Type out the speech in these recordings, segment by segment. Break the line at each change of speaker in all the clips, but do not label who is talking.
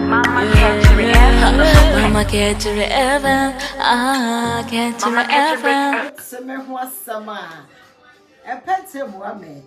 Mama kɛkyerɛ Eva Mama kɛkyerɛ Eva Ah kɛkyerɛ Eva Se me ho
asɛm a ɛpɛ te boa me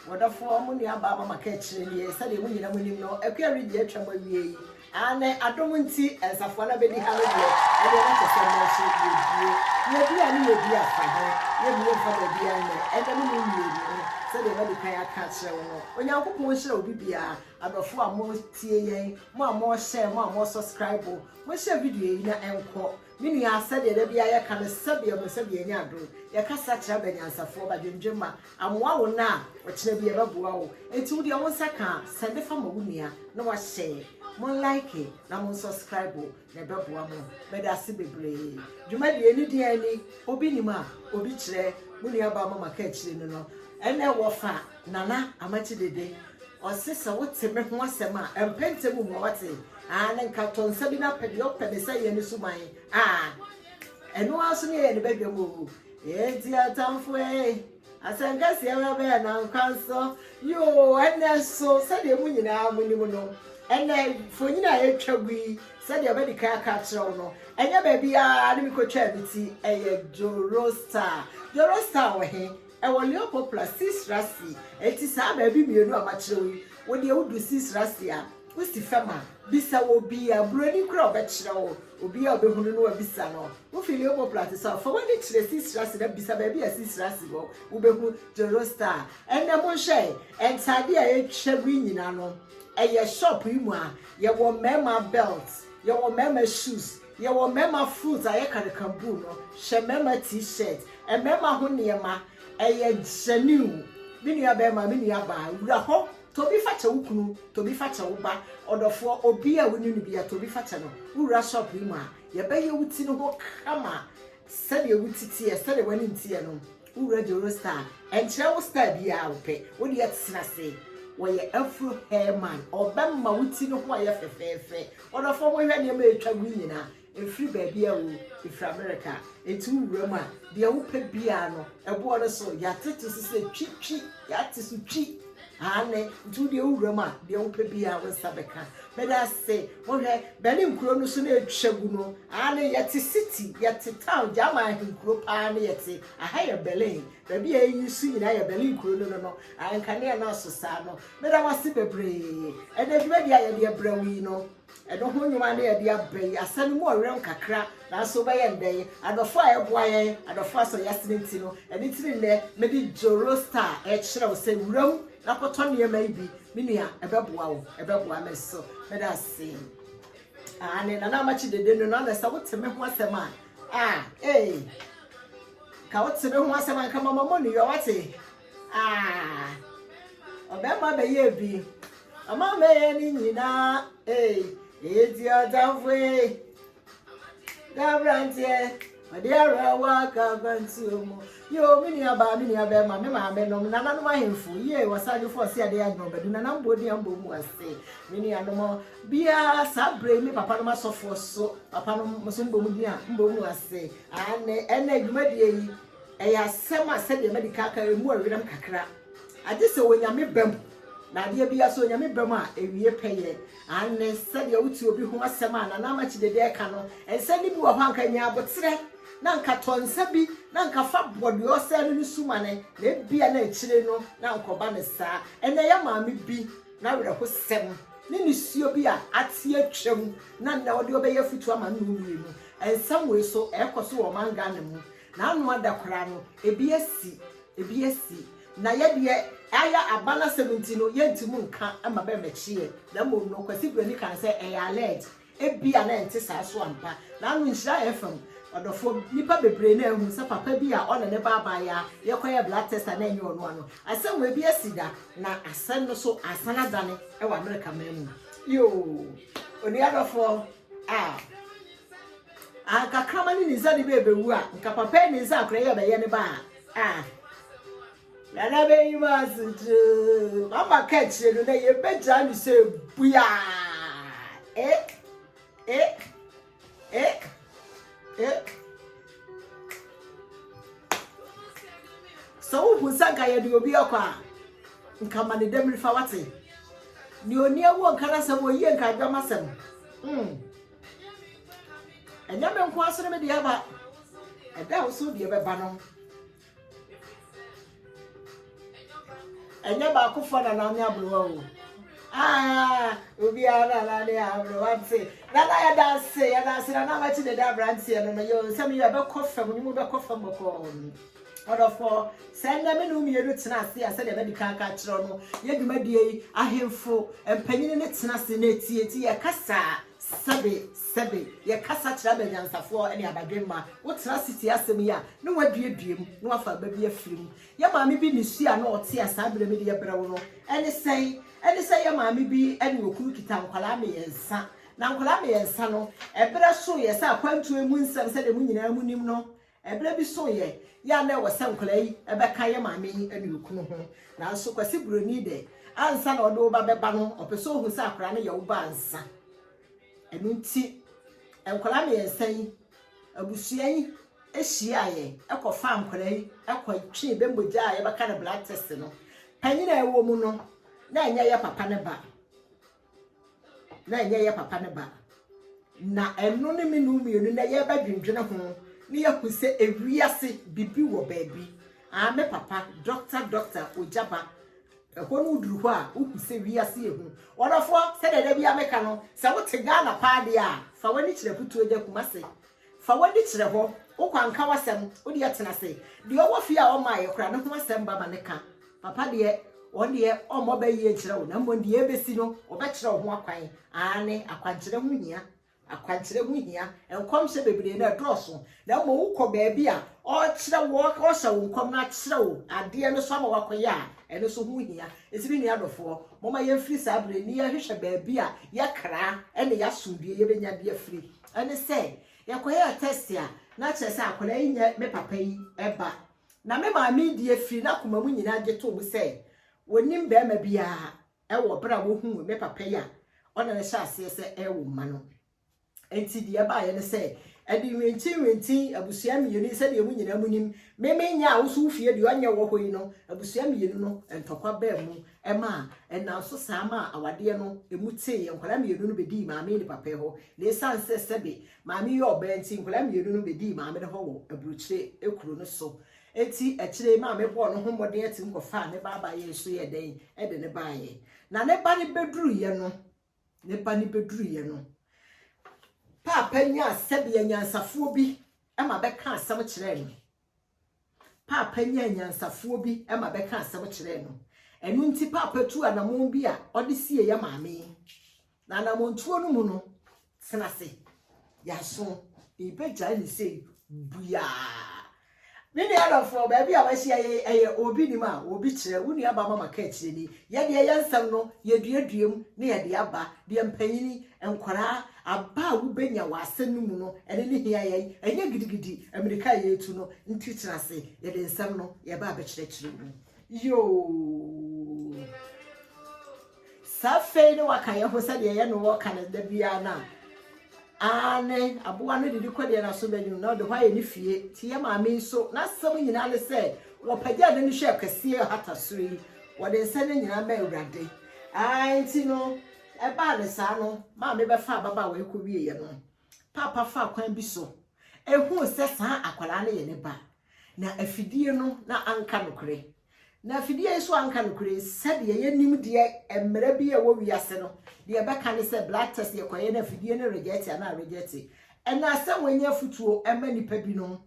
wɔdɔfoɔ mo nua baa mama kɛkyerɛ nie sɛdeɛ mo nyina mo nim no akua redi atwa mu awie yi ane adom nti nsafoa no abɛdi ha no deɛ ɛdeɛ na kyɛ sɛ mo akyi yɛdie yɛdi a ne yɛdi afa ho yɛmie mfa baabi a nnɛ ɛnɛ me ne mmienu sɛdeɛ madi kan aka akyerɛ wo no onyankopɔn nhyira obi biara Adɔfo a mo tie yɛn, mo a mo share, mo a mo subscribe, mo nhyɛ video yi na ɛnkɔ. Me nua sɛdeɛ da biara yɛka no sɛdeɛ mo sɛdeɛ yɛnya adom, yɛkasa kyerɛ aba nyansafoɔ, ba dwendwen ma, amoa wo na a ɔkyena bi ɛbɛboa wo, enti wo deɛ wo nsa ka a sɛnde fa ma wo nua na wa share, mo like na mo subscribe, Na ɛbɛboa mo. Meda ase bebree. Dwumadie no di yɛn ni, obi nim a obi kyerɛ, mo nua baa mama ka akyire no no, ɛnɛ wɔ fa Nana Amakye Dede, ɔse sɛ wo te me ho asɛm a, ɛmpɛ ntɛm mmua wate, aane nka tɔ nsa bi na pɛ deɛ ɔpɛ ne sɛ yɛ no suman aa, ɛno ara nso ne yɛyɛ ne badwam oo, ee nti atamfoɔ ee. Asɛnka si ara bɛyɛ nnansa nso, yoo, ɛnnɛ nso, sɛdeɛ mo nyinaa monim no, ɛnnɛ, mfonini a yɛtwa gu yi, sɛdeɛ madi kan aka akyerɛ wo no, ɛnyɛ baabiara na mekɔtwaa me ti, ɛyɛ Joro Star. Joro Star wɔ he? Ɛwɔ Lyon Poplar, Cis Racy. Enti saa baabi mmienu a makyerɛ wo yi, wo deɛ wodu Cis Racy a, Wosi fam a, bisa obi. Aburoni koraa ɔbɛkyerɛ wo. Obiara a ɔbɛhunu no wabisa no. Wofi Leobo Plateau South, fa w'ani kyerɛ Sisiri ase na bisa baabi a Sisiri ase wɔ. Wobɛhu Joro Star. Ɛnnɛ monhwɛ, ntadeɛ a atwa mu yi nyinaa no, ɛyɛ shop yi mu a, yɛwɔ mmarima belt, yɛwɔ mmarima shoes, yɛwɔ mmarima fruit a yɛka no kambuu no, hwɛ mmarima T-shirt, mmarima ho nneɛma, ɛyɛ genuine. Me nuabarima, me nuabaa, wura hɔ Tobi fakyɛ wo kunu, Tobi fakyɛ wo ba, ɔdɔfoɔ, obi a wonni no biara, Tobi fakyɛ no. Wowura shop yi mu a, yɛbɛyɛ wo ti no ho kama sɛdeɛ wo ti teɛ, sɛdeɛ w'anim teɛ no. Wowura Joro Star, ɛnkyerɛ wo star biara a wopɛ, wo deɛ tena ase. Wɔyɛ Afro Hair Man, ɔbɛma wo ti no ho ayɛ fɛfɛɛfɛ. Ɔdɔfoɔ, monhwɛ nneɛma a ɛretwa gu yi nyinaa, Ɛfiri baabi a oo? Ɛfiri Amerika. Enti wo wura mu a, deɛ wo pɛ biara no, ɛboɔ no so, yɛate to so sɛ twi, twi, yɛate so twi. Aane, nti wo deɛ wo wura mu a, deɛ wo pɛ biara wo nsa bɛka. Meda ase. Monhwɛ, bɛne nkuro no so na ɛtwa gu no. Aane, yɛte city, yɛte town, German ahenkuro paa ne yɛte. Aha yɛ Berlin. Baabi a ɛyi so nyinaa yɛ Berlin kuro no no no. Aane, nkanea no aso saa no. Meda mo ase bebree. Ɛnna dwumadie a yɛde brɛ wo yi no, Ɛno ho nnwuma ne yɛde aba yi. Asa no mu ɔwerɛm kakra, nanso wobɛyɛ no dɛn? Adɔfo a ɛboa yɛn, adɔfo a sɔ yɛn asene nti no. Ɛno nti ne nnɛ mede Zoroaster rekyerɛ wo sɛ wura mu na kɔtɔ nneɛma yi bi, me nua, ɛbɛboa wo, ɛbɛboa me nso. Meda ase. Aane, Nana Amakye dede no no, na sɛ wote me ho asɛm a, ah, ee, ka wote me ho asɛm a, nka mama mo nneyɔ, wate? Ah, ɔbɛma bɛyɛ bi. Ɔma mɛyɛ ne nyinaa. Ee, eti ɔtamfo ee. Dabranteɛ, ɔde awerɛhoɔ aka akwantuo mu. Yoo, me nua baa, me nua bɛrima, me maame nom, nananom ahemfo, yie, wɔsadwofo, ɔse adeɛ agorɔ bɛdu, nanam bɔ di ambɔ mu ase. Me nuanom, biara saa berɛ yi me papa nom asɔfoɔ so, papa nom nso mbɔ mu di a, mbɔ mu ase. Aane, ɛnna adwumadie yi, Ɛyɛ asɛm a sɛdeɛ madi ka aka ɛmu ɛwerɛm kakra. Agye sɛ Onyame bam. Na adeɛ biara sɛ Onyame bam a ɛwie pɛyɛ. Aane, sɛdeɛ wote obi ho asɛm a Nana Ama Kyidede ɛka no, nsɛm no bi wɔ hɔ a anka nya aboterɛ, na anka tɔ nsa bi na anka fa bɔ deɛ ɔsɛe no no sumane, na ebia na akyire no na anka ɔba no saa. Ɛnnɛ yɛ maame bi n'awerɛhosɛm ne nisuo bi a ate atwam na nnɛ ɔde ɔbɛyɛ afutuo ama nnɔɔ mmienu. Nsɛm wei so ɛɛkɔ so wɔ ɔman Ghana mu. N'ano ada koraa no, ebi asi, ebi asi. Na yɛ deɛ, ayɛ aba no asɛm nti no, yɛntumi nka ma bɛmmɛkyeɛ. Na mmom no, Kwasi Burani kaa no sɛ ɛyɛ alleged. Ebia na ɛnte saa nso ampa. N'ano nhyira yɛn fam. Ɔdɔfoɔ, nnipa bebree na ahu sɛ papa bi a ɔne ne ba abaayewa rekɔyɛ blood test a na ɛnyɛ ɔno ano. Asɛm wei bi asi da, na asɛm no nso asan adane wɔ Amerika man mu. Yoo, onua dɔfoɔ, ah. Anka kraman ne ne nsa de bɛ bɛwu a, nka papa yi ne nsa akora yɛ bɛyɛ ne ba a. Ah. Nana bɛyi ma asokyerɛ. Mama ka akyire no na yɛbɛgyaa ne sɛ bua. Eh. Eh. Eh. Eh. Sɛ wohu sɛ nka yɛde obi akɔ a, nka ma ne dɛm fa wate. Nea ɔni ɛwɔ nka n'asɛm, ɔyie nka adwam asɛm. Mm. ɛnyɛ me nko asene me deɛ aba ɛda wo so deɛ bɛba no ɛnyɛ baakofoɔ na nane aborowa o ah, obiara na nane aborowa te nana yɛda ase yɛda ase nana makyi dede aberanteɛ no no yɛ nsɛm yɛ ɛbɛkɔ fam ne mu bɛkɔ fam bɔkɔɔ Ɔdɔfoɔ, sɛ nnɛ me ne wo mmienu tena ase a, sɛdeɛ madi kan aka akyerɛ wo no, yɛ dwumadie yi, ahemfo mpanin no tena ase na ɛtie, enti yɛkasa sɛbe sɛbe, yɛkasa kyerɛ aba anyansafoɔ ne aba dwemma. Wotena ase tie asɛm yi a, na woaduadua mu, na woafa aba bi afiri mu. Yɛn maame bi ne su a na ɔte a saa berɛ medeɛ brɛ wo no, ɛne sɛn? Ɛne sɛ yɛn maame bi ne okunu kita nkwadaa mmiɛnsa, na nkwadaa mmiɛnsa no, ɛberɛ soeɛ sɛ akwantuo mu nsɛm sɛdeɛ mo nyinaa monim no, Ɛberɛ bi so yɛ yɛ a na ɛwɔ sɛ nkwadaa yi bɛka yɛ maame yi anurukunu ho. Nanso Kwasi Buroni dɛ, ansa na ɔde wo ba bɛba no, ɔpɛ sɛ ɔhu sɛ akwadaa no yɛ wo ba ansa. Ɛno nti, nkwadaa mmiɛnsa yi, abusua yi hyiaeɛ kɔfaa nkwadaa yi kɔtwee bɛ mogya a yɛbɛka no blood test no. Panyin a ɛwɔ mu no, na ɛnyɛ yɛ papa ne ba. na ɛnyɛ yɛ papa ne ba. Na ɛno ne me no mmienu na yɛbɛdwendwene ho na yɛahu sɛ ewiase bibi wɔ baabi. Aa me papa, dɔkta dɔkta, ogya ba. Ɛhɔ no woduru hɔ a, wohu sɛ wiase ehu. Ɔdɔfoɔ, sɛdeɛ da biara meka no, sɛ wote Ghana paa deɛ a, fa w'ani kyerɛ Putuagya Kumase. Fa w'ani kyerɛ hɔ. Wo kwan ka w'asɛm. Wo deɛ tena ase. Deɛ ɔwɔ fie a ɔmmaeɛ koraa no ho asɛm ba ma no ka. Papa deɛ, ɔno deɛ, ɔmmɔ bɛ yie nkyerɛ wo, na mmom deɛ ɛbɛsi no, ɔbɛkyerɛ wo ho akwan. Aane, akwankyerɛ ho hia. Akwankyerɛ ho hia. Nkɔmhyɛ bebree, na ɛdɔɔso. Na mmom wokɔ baabi a, ɔrekyerɛ wo, ɔrehyɛ wo nkɔm na akyerɛ wo adeɛ no so ama woakɔyɛ a, ɛno nso ho hia. Enti me nua dɔfoɔ, momma yɛmfiri saa berɛ yi na yɛnhwehwɛ baabi a yɛkra ne yɛasomdwoeɛ yɛbɛnya de afiri. Ɛne sɛ, yɛkɔyɛɛ tɛst a, na kyerɛ sɛ akwadaa yi nyɛ me papa yi ba. Na me maame deɛ firi n'akoma mu nyinaa gye toom sɛ wɔnnim barima biara wɔ berɛ a wɔhuu me papa yi a ɔne no hyɛ aseɛ sɛ ɛrewo mma no. Enti deɛ ɛbaeɛ ne sɛ, ɛde nnwentinnwenten abusua mmienu yi sɛdeɛ mo nyinaa mu nim, me menyɛ a wo nso wo fie deɛ ɔnyɛ wɔ hɔ yi no, abusua mmienu no ntɔkwa baa mu ɛmaa ɛnam so saa maa awadeɛ no ɛmu teeɛ. Nkwadaa mmienu no bɛdii maame ne papa hɔ, na ɛsiane sɛ sɛbe maame yɛ ɔbaa nti, nkwadaa mmienu no bɛdii maame no hɔ wɔ aburokyire kuro no so. Enti akyire yi maame bɔɔ ne ho mmɔden atim kɔfaa ne ba abaeɛ nso yɛɛ dɛn de ne baeɛ. Na ne ba no bɛduruiɛ no, ne ba no bɛduruiɛ no, paapa nyaa sɛdeɛ nyansafoɔ bi ma bɛka asɛm kyerɛɛ no. Paapa nyaa anyansafoɔ bi ma bɛkaa asɛm kyerɛɛ no. Ɛno nti Paapa tuu anamɔn bi a ɔde siee yɛ maame yi. Na anamɔntuo no mu no, tena se, yɛaso, yɛbɛgyae no sei buaa. Me nua adɔfoɔ, baabi a wahyia yɛ ɛyɛ obi nim a obi kyerɛ, wo nua ba mama ka akyire ni. Yɛdeɛ yɛ nsɛm no, yɛduadua mu na yɛde aba, deɛ mpanyini Nkwadaa, aba a wobenya wɔ asɛm no mu no, ɛne ne hia yɛn. Ɛnyɛ gidigidi mmirika a yɛretu no nti tena ase, yɛde nsɛm no yɛba abɛkyerɛkyerɛ mu. Yoo! Sɛ afei ne waka yɛn ho sɛdeɛ yɛne wɔ ka no da biara no a, aane, aboa no didi kɔ deɛ n'aso bɛnwunu na ɔde hɔ ayɛ ne fie. Nti yɛn maame nso, n'asɛm nyinaa ne sɛ, wɔpagyaa n'ani hwɛɛ kɛseɛ ɔhata soro yi, wɔde nsɛm no nyinaa ma Awurade. Aane, nti no, Ɛbaa no saa no, maame bɛfaa ababaawa yi kɔwieeɛ no, paapa faa kwan bi so huu sɛ saa akwadaa no yɛ ne ba. Na afidie no, na anka nokorɛ. Na afidie yi nso anka nokorɛ sɛdeɛ yɛnim deɛ mmerɛ bi a ɛwɔ wiase no, deɛ ɛbɛka ne sɛ blood test yɛkɔyɛ no afidie no rejɛte anaa rejɛte. Ɛnna sɛ wɔanya afotuo ma nnipa binom.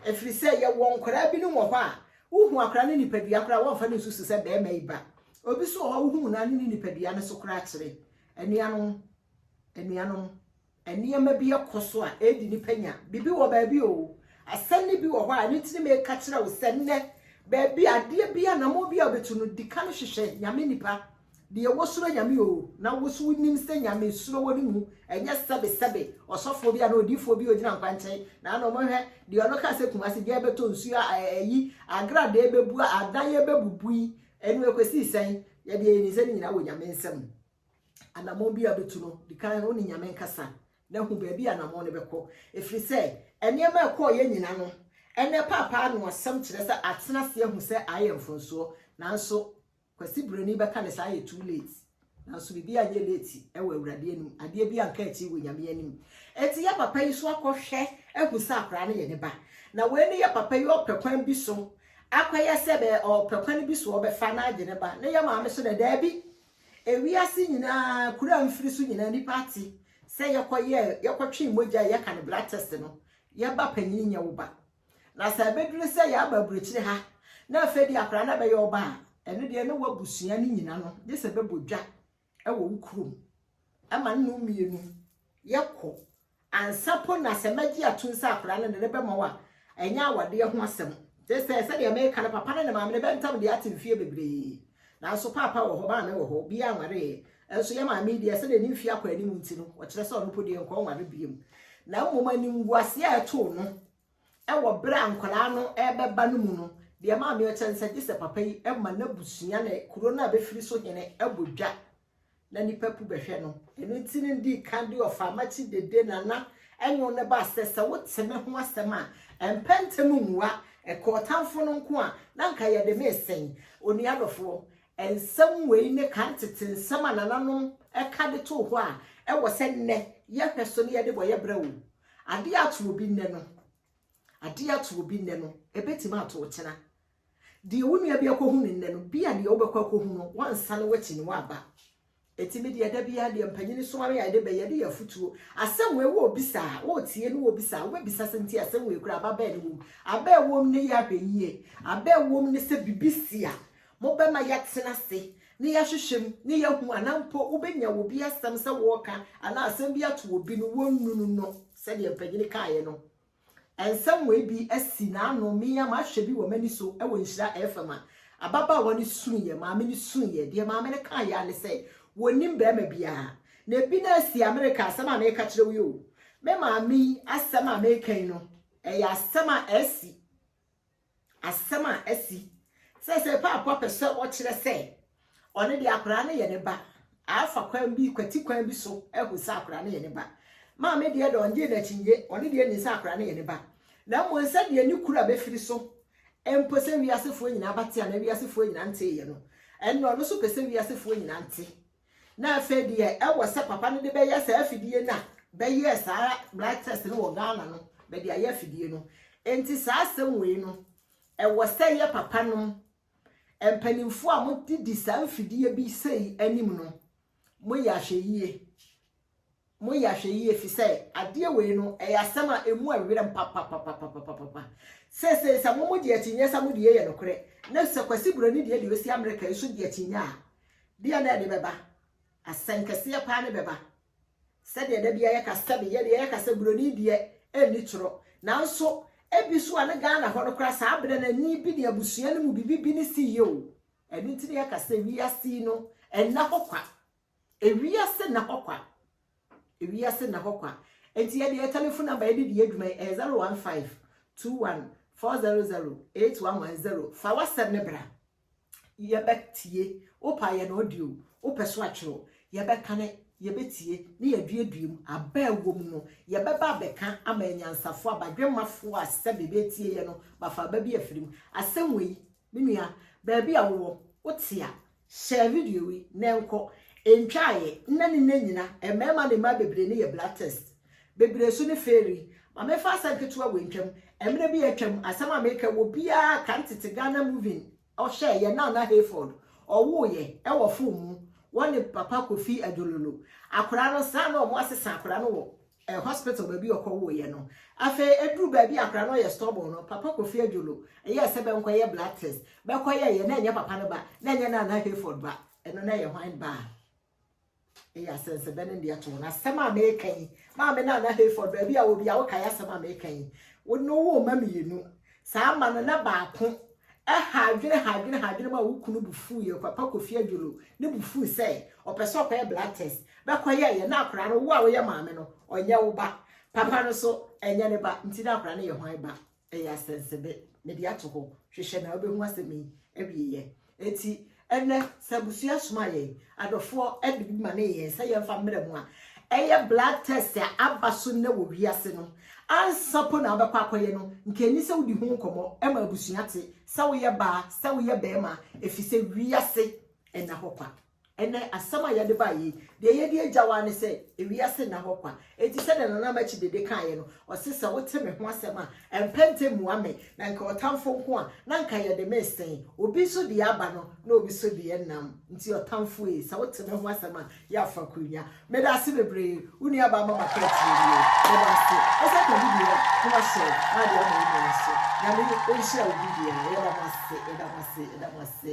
Ɛfiri sɛ yɛwɔ nkwadaa binom wɔ hɔ a, wohu akwadaa no nipadua koraa wɔmfa no nsusu sɛ barima yi ba. Obi nso wɔ hɔ a wohu no ano ne nipadua no so koraa kyerɛ. Anuanom, anuanom, nneɛma bi kɔ so a ɛredi nipa nya. Biribi wɔ baabi o. Asɛm no bi wɔ hɔ a ɛno nti ne meka kyerɛ wo sɛ nnɛ baabi adeɛ bi anamɔ bi a wobɛtu no di kan hwehwɛ nyame nipa Deɛ wosuro Nyame oo na woso wonim sɛ Nyame suro wɔ ne mu ɛnyɛ sɛbe sɛbe ɔsɔfoɔ bi anaa odiyifoɔ bi ogyina nkwankyɛn na na ɔmo hwɛ deɛ ɔno kaa sɛ Kumasi gya bɛtɔ nsuo a ayi agradee bɛbu a adan ɛbɛbubu yi ɛno ɛkɔsii sɛn yɛdeɛ yɛnim sɛ ne nyinaa wɔ Nyame nsam anamɔn bi a bɛtu no dikan wo ne Nyame nkasa na hu baabi anamɔn no bɛkɔ ɛfiri sɛ ɛnneɛma ɛkɔɔ yɛ nyina no ɛnɛ paapaa no asɛm kyerɛ sɛ atena aseɛ hu sɛ ayɛ mfonsoɔ nanso Kwasi brɛni bɛka ne saa ayɛ too late nanso biribi anyɛ late wɔ awurade anim adeɛ bi anka akyiri wɔ nyame anim enti yɛ papa yi so akɔ hwɛ ahu sɛ akwaraa no yɛ ne ba na wei ne yɛ papa yi ɔpɛ kwan bi so akɔ yɛ sɛ bɛ ɔpɛ kwan bi so ɔbɛfa na agye ne ba ne yɛ maame so na daabi ewiase nyinaa kuro a mfiri so nyinaa nipa ate sɛ yɛkɔ yɛ yɛkɔ twe mogya yɛka no blood test no yɛ ba panyin nyɛ wo ba Na sɛ ɛbɛduru sɛ yɛaba aburokyire ha na afei deɛ akwadaa no abɛyɛ ɔba a, ɛno deɛ ne w'abusua no nyina no gye sɛ bɛbɔ dwa wɔ wo kurom ma no nom mmienu yɛkɔ ansa po na sɛ mɛgye atom sɛ akwadaa no de ne bɛma wo a ɛnyɛ awadeɛ ho asɛm gye sɛ sɛdeɛ meka no papa no ne maame no bɛntam deɛ ate mfeɛ bebree Nanso Paapa wɔ hɔ, Maame wɔ hɔ, obiara anwareeɛ. Nso yɛn maame yi deɛ, sɛdeɛ ne mfeɛ akɔ anim nti no, ɔkyerɛ sɛ ɔno mpo deɛ nkɔnware biom. Na mmom animguaseɛ a ɛtoo no wɔ berɛ a nkwadaa no rebɛba no mu no, deɛ ɛmaa me ɔkyɛ ne sɛ gye sɛ papa yi ma n'abusua ne kuro no a bɛfiri so hene bɔ dwa na nnipa pu bɛhwɛ no. Ɛno nti na dii kan de ɔfaa makyi dede nana ɛnwo no baa sɛ sɛ wote me ho asɛm a, ɛmpɛ ntɛm mmua. Ɛka ɔtamfo no nko a, na anka yɛde me resɛn. Onua dɔfoɔ, nsɛm wei ne kan tete nsɛm a nananom ka de too hɔ a ɛwɔ sɛ nnɛ yɛhwɛ so na yɛde bɔ yɛ bra o. Adeɛ ato obi nnɛ no, adeɛ ato obi nnɛ no, ɛbɛtumi ato wo kyena. Deɛ wo nua bi akɔhu no nnɛ no, bia deɛ wobɛkɔ akɔhu no, woansane woakyi no, woaba. Enti me deɛ da biara deɛ mpanyini soare a yɛde bɛ, yɛde yɛ afutuo. Asɛm wei worebisa a, woretie na worebisa a, wobɛbisa sɛ nti asɛm wei koraa aba bɛn ne wom. Aba a ɛwom ne yɛ ahwɛyie. Aba a ɛwom ne sɛ biribi si a, mobɛma yɛatena ase na yɛahwehwɛ mu na yɛahu anaa mpo wobɛnya obi asɛm sɛ wɔreka anaa asɛm bi ato obi no, wɔnnunu no sɛdeɛ mpanyini kaeɛ no, Nsɛm wei bi asi n'ano, me ara mahwɛ bi wɔ m'ani so wɔ Nhyira FM a ababaawa no suiɛ, maame no suiɛ. Deɛ maame no kaeɛ ara ne sɛ, wɔnnim barima biara. Na ebi no ara si Amerika, asɛm a mereka kyerɛ wo yi o. Me maame yi asɛm a mereka yi no, ɛyɛ asɛm a asi. Asɛm a asi seesei, Paapa pɛ sɛ ɔkyerɛ sɛ ɔno deɛ akwadaa no yɛ ne ba, afa kwan bi, kwati kwan bi so ahu sɛ akwadaa no yɛ ne ba. Maame deɛ de ɔnnye n'akyinnye, ɔno deɛ nim sɛ akwadaa no yɛ ne ba. Na mmom sɛdeɛ ne kura bɛfiri so mpo sɛ wiasefoɔ nyinaa bɛte anaa wiasefoɔ nyinaa nteeɛ no, ɛnna ɔno nso pɛ sɛ wiasefoɔ nyinaa te. Na afei deɛ ɛwɔ sɛ papa no de bɛyɛ saa afidie no a bɛyɛɛ saa blood test no wɔ Ghana no bɛde ayɛ afidie no nti saa asɛm wei no ɛwɔ sɛ yɛ papa no mpanimfoɔ a mode di saa mfidie bi sei anim no moyɛ ahwɛyie Moyɛ ahwɛyie ɛfiri sɛ adeɛ wei no ɛyɛ asɛm a ɛmu ɛwerɛm papapapapapapa. Seesei sɛ mo mo gye akyinnyeɛ sɛ mo deɛ yɛ nokorɛ na sɛ Kwasi Buroni deɛ deɛ ɔsi Amerika yi nso gye akyinnyeɛ a, deɛ na ɛde bɛba? Asɛnkɛseɛ paa ne bɛba. Sɛdeɛ da biara yɛka sɛbe yɛdeɛ yɛka sɛ Buroni deɛ ɛnni torɔ nanso ɛbi so a ne Ghana hɔ no koraa saa berɛ no ani bi ne abusua no mu biribi bi ne siiɛ o. Ɛno nti na yɛka sɛ wiase yi no ɛnna hɔ kwa. Ewiase nna hɔ kwa. Ewiase nna hɔ kwa. Enti yɛde yɛn telefon namba yɛde di yɛn dwuma yi, ɛyɛ 015 21 400 8110. Fa w'asɛm no bra. Yɛbɛtie. Wopɛ a yɛn audio, wopɛ so atwerɛ, yɛbɛkane, yɛbɛtie, ne yɛaduadua mu. Aba a ɛwɔ mu no, yɛbɛba abɛka ama anyansafoɔ, abadwemmafoɔ a sɛdeɛ bɛtie yɛn no, bafa aba bi afiri mu. Asɛm wei, Me nua, baabi a wowɔ, wote a, share video yi na ɛnkɔ. Ɛntwa ayɛ, nnɛ ne nnɛ nyina, mmarima ne mmaa bebree no yɛ blood test. Bebree nso no fairy. Ma memfa asɛm ketewa wei ntwam. Mmerɛ bi a atwam, asɛm a mereka yi, obiara kan tete Ghana moving, ɔhwɛ yɛn Nana Hayford, ɔwooeɛ ɛwɔ fon mu, wɔne Papa Kofi Adjololo. Akwadaa no, saa na wɔasesa akwadaa no wɔ eh, hospital baabi ɔkɔ woeɛ no. Afei ɛduru baabi akora no ɔyɛ stubborn no, Papa Kofi Adwolo ɛyɛɛ sɛ bɛnkɔyɛ blood test. Bɛkɔyɛeɛ na ɛnyɛ papa no ba, na ɛnyɛ Nana Hayford ba, ɛno na ɛyɛ hwan ba a? ɛyɛ asɛnsɛbɛ ne deɛ to wɔn asɛm a meka yi maame na ana hayford baabi a wɔ bi a wokae asɛm a meka yi wo ne wo ma mmienu Saa mma no, na baako ha adwene ha adwene ha adwene ma wo kunu bo fuiɛ, Kwapa Kofi Adjolo, ne bo fui sɛ ɔpɛ sɛ ɔkɔyɛ blood test, bɛkɔyɛeɛ, na akwadaa no, wo a woyɛ maame no, ɔnyɛ wo ba, papa no nso, ɛnyɛ ne ba, nti na akwadaa no yɛ hwan ba? Ɛyɛ asɛnsɛde, mede ato hɔ, hwehwɛ na wobɛhu asɛm yi awieeɛ. Enti, ɛnnɛ, sɛ abusua soma yɛn adɔfoɔ de biribi ma ne yɛn sɛ yɛmfa mmrɛ mu a, ɛyɛ blood test a aba so nnɛ wɔ wiase no ansa mpo na wobɛkɔ akɔyɛ no. Nka ɛnni sɛ wodi ho nkɔmmɔ ma abusua te sɛ woyɛ baa, sɛ woyɛ barima, ɛfiri sɛ wiase nna hɔ kwa. Ɛnnɛ, asɛm a yɛde baeɛ yi, deɛ yɛde agyaw ara ne sɛ, ewiase nna hɔ kwa. Enti sɛdeɛ Nana Ama Kyide de kaeɛ no, ɔse, Sɛ wote me ho asɛm a, ɛmpɛ ntɛm mmua me, na nka ɔtamfo nko a, na nka yɛde me resɛn. Obi nso deɛ aba no, na obi nso deɛ nnam. Nti ɔtamfo ei, sɛ wote me ho asɛm a, yɛ afakurunya. Meda ase bebree, wo nuabaa ama makɔ akyire nie. Meda ase. Wo nsa ka bi deɛ a, na wahyɛ na ade ama wo nua nso. Nyame nhyira obi biara. Yɛda mo ase, yɛda mo ase, yɛda mo ase.